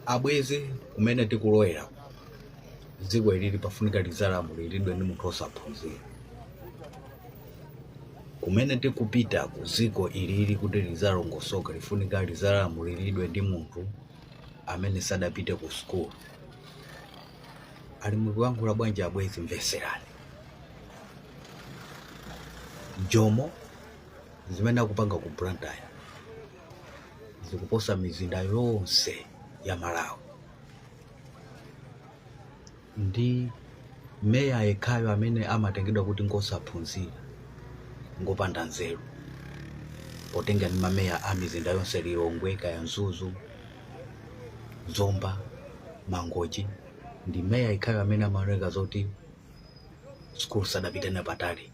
abwezi kumene tikulowera dziko ilili pafunika lidzalamuliridwe ndi munthu osaphunzira kumene tikupita ku dziko ilili kuti lidzalongosoka lifunika lidzalamuliridwe ndi munthu amene sadapite ku sukulu ali mukuyankhula bwanji abwezi mveserani jomo zimene akupanga ku blantyre zikuposa mizinda yonse ya Malawi ndi meya yekhayo amene amatengedwa kuti ngosaphunzira ngopanda nzeru potenga ndi mameya a mizinda yonse Lilongwe, kaya Mzuzu, Zomba, Mangochi ndi meya yekhayo amene amaoneka zoti sikulu sadapite nayo patali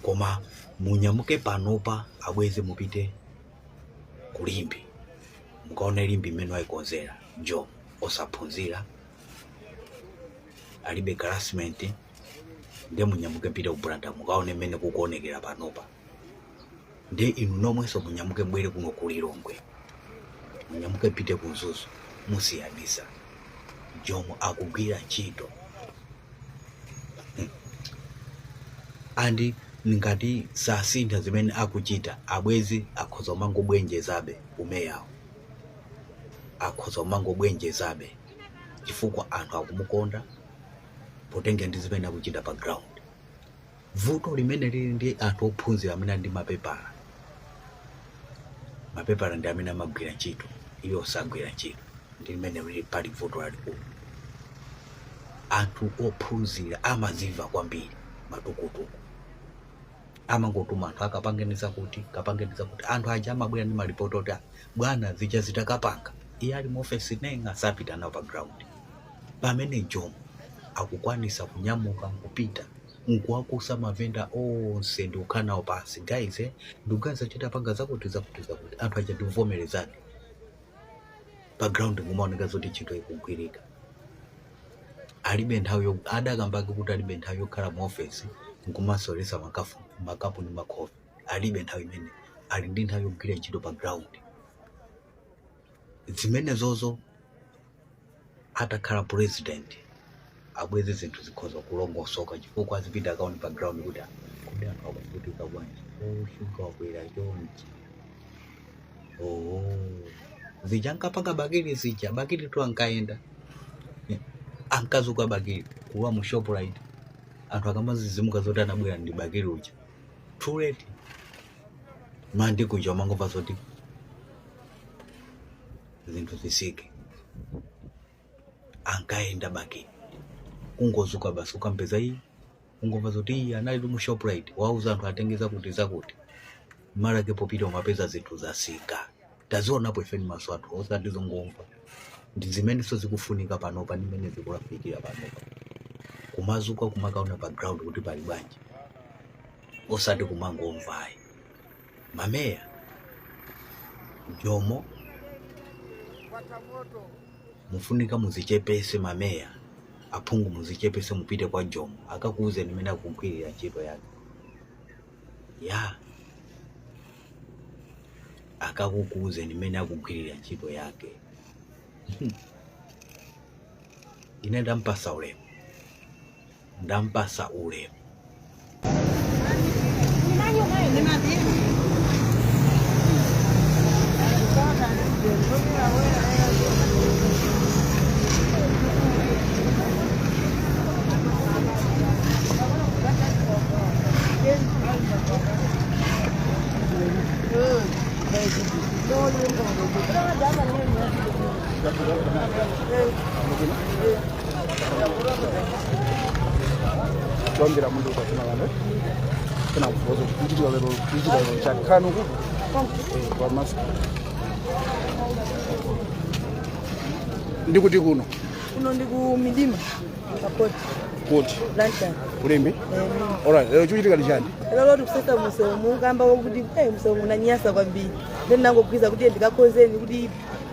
koma munyamuke panopa abwenzi mupite ku Limbe mukaone Limbe mmene wayikonzera Jomo osaphunzira alibe harassment nde munyamuke mupite ku Blantyre mukaone mmene kukuonekera panopa nde inu nomwenso munyamuke mbwere kuno ku lilongwe munyamuke mupite ku mzuzu musiyanisa jomo akugwira ntchito hmm. and ngati sasintha zimene akuchita abwezi akhoza kumangobwenjezabe umeyawo akhoza kumangobwenjezabe chifukwa anthu akumukonda potengera ndi zimene akuchita pa ground Vuto limene lili ndi anthu ophunzira amene ali ndi mapepala, mapepala ndi amene amagwira ntchito, iwo sagwira ntchito, ndi limene lili pali vuto lalikulu. Anthu ophunzira amazimva kwambiri matukutuku, amangotuma anthu akapangeni zakuti kapangeni zakuti. Anthu aja amabwera ndi malipoti oti "Ah, bwana zija tidakapanga iye ali mu ofesi neng'a sapita nawo pa ground pamene Jomo akukwanitsa kunyamuka nkupita nkuwakusa mavenda onse ndikukhala nawo pansi guys eh, ndikuganiza kuti titapanga zakuti zakuti zakuti anthu aja ndikuvomerezana pa ground nkumaoneka zoti ntchito ikugwirika alibe nthawi yo- adakambake kuti alibe nthawi yokhala mu ofesi nkumaseweretsa makapu ndi makhofi alibe nthawi imeneyo ali ndi nthawi yogwirira ntchito pa ground zimenezozo atakhala president abweze zinthu zikhoza kulongosoka chifukwa azipita akaone pa ground kuti kodi anthu akuvutika bwanji oh shuga wakwera chonchi oh zija ankapanga bakili zija bakili tu ankayenda Eh, ankazuka bakili kulowa mu shoprite anthu akamadzidzimuka zoti anabwera ndi bakili uja too late mawa ndikucha umangomva zoti zinthu zitsike ankayenda bakili kungozuka basi ukampeza iyi ungomva zoti iyi anali tu mu shoprite wauza anthu atengeza kuti zakuti mawa lake popita umapeza zinthu zatsika tazionapo ife ndi maso athu osati zongomva ndi zimenenso zikufunika panopa ndi mmene zikulafikira panopa kumazuka kumakaona pa ground kuti pali bwanji osati kumangomvayi mameya jomo mufunika muzichepese mameya aphungu muzichepese mupite kwa jomo akakuuzeni mmene akugwirira ntchito yake ya akakuuzeni mmene akugwirira ntchito yake ine ndampasa ulemu ndampasa ulemu chongera munthu ukafuna kanthu kana kuvoza kuchitira lero kuchitira lero chakanu kuti kwa mask ndi kuti kuno kuno ndi ku midima kapoti kuti blantyre ku limbe alright lero chikuchitika ndi chani lero tikusesa msewu mukamba wakuti eh, msewu unanyasa kwambiri ndiye ndinangoganiza kuti ndikakonzeni kuti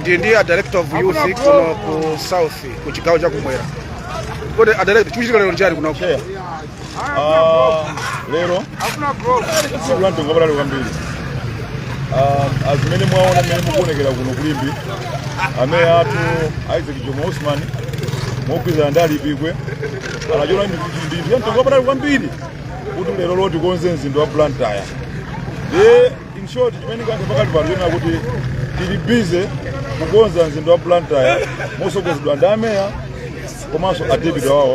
ndiye ndi a director of youth kuno ku south ku chigawo cha kumwera kodi a director chikuchitika lero nchiyani kunoko Chair, ah, lero tsiku la mtengo wapatali kwambiri Ah, azimene mwaona mmene mukuonekera kuno ku limbe ameya athu isaac jomo osman mogwirizana ndi alipikwe anachiona ndi chamtengo wapatali kwambiri kuti lerolo tikonze mzinda wa blantyre ndi in short chimene ngati pakati pano china kuti tili busy kukonza mzinda wa blantyre mosogozedwa ndi ameya komanso a deputy awo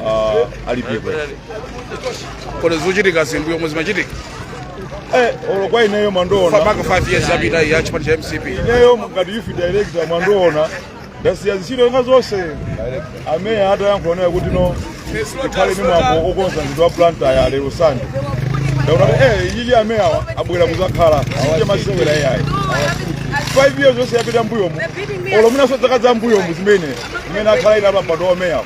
uh, alipikwe kodi zochitikazi mbuyomu zimachitika eh, olo kwa ineyo mwandiona famaka 5 years yapita iyi ya chipani cha mcp ineyo ngati youth director mwandiona ndasiya zintchito zina zonse ameya atayankhula naye kuti no tikhale ndi mwambo okonza mzinda wa blantyre lero sande ndaona kuti eh iyiyi ameyawa abwera kuzakhala sinje masewera iyayi five years yonse yapita mbuyomu olo mwinanso dzaka za mbuyomu zimene zimene akhala ena pampando wa umeyawo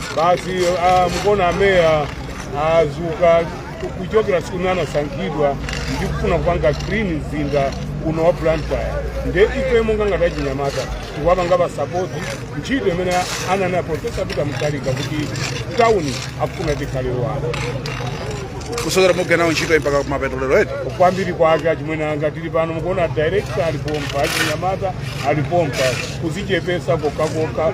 basi ah, mukuona ameya azuka kuchokera siku imene anasankhidwa ndi kufuna kupanga clean mzinda uno wa blantyre nde ife monga ngati achinyamata tikuwapanga pasapoti ntchito imene ananena profesa peter mutharika kuti tawuni akufuna tikhale wake kusokera mugwira nawo ntchito mpaka kumapeto lero eti kwambiri kwake achimwene anga tili pano mukuona director alipompa achinyamata alipompa kuzichepesa kokhakokha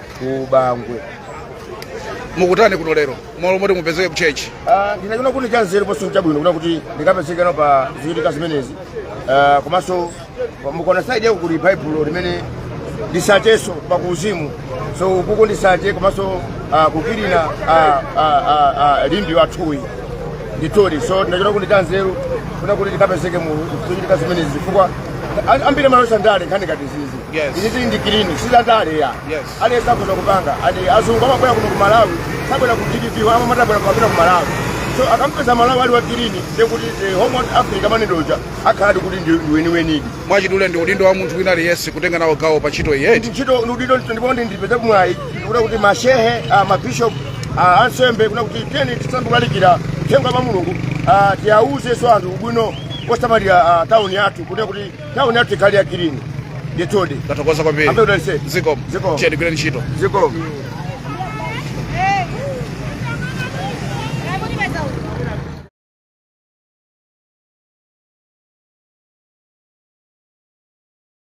ku bangwe mukutani kuno lero malo moti mupezeke kuchechi Ah, ndinachiona kuti ndi chanzeru ndiponso chabwino kunena kuti ndikapezeke nawo pa zichitika zimenezi Ah, komanso pa- mukaona saidi yako kuli baibulo limene ndi tsachenso pa kuuzimu so kuku ndi tsache komanso ah, kukilina ah, ah, ah, ah, limbe wathuyu nditoli so ndinachiona kuti ndi chanzeru kunena kuti ndikapezeke mu zichitika zimenezi chifukwa ambiri amayesa ndale nkhani ngati izizi Yes. Izi tili ndi clean, si zandale ayi. Aliyense akhoza kupanga. And azungu amabwera kuno ku Malawi, sabwera ku DPP, amati tabwera kupita ku Malawi. So akampeza Malawi ali wa clean, ndiye kuti the warm heart of Africa amanenedwa uja akhala ali kuti ndi ndi weniwenidi. mwachidule ndi udindo wa munthu wina aliyense kutenga nawo gawo pa ntchito iyi eti ntchito udindo ndipo ndi ndipezeko mwayi kunena kuti mashehe ah, mabishop ah, ansembe kunena kuti tiyeni tisangolalikira uthenga wa mulungu ah, tiwauzenso anthu ubwino kosamalira ah, tauni yathu kunena kuti Tauni yathu ikhale ya kilini. Ndithudi. Tathokoza kwambiri. Ambuye adalitse. Zikomo. Zikomo. Chedi gwirani ntchito. Zikomo.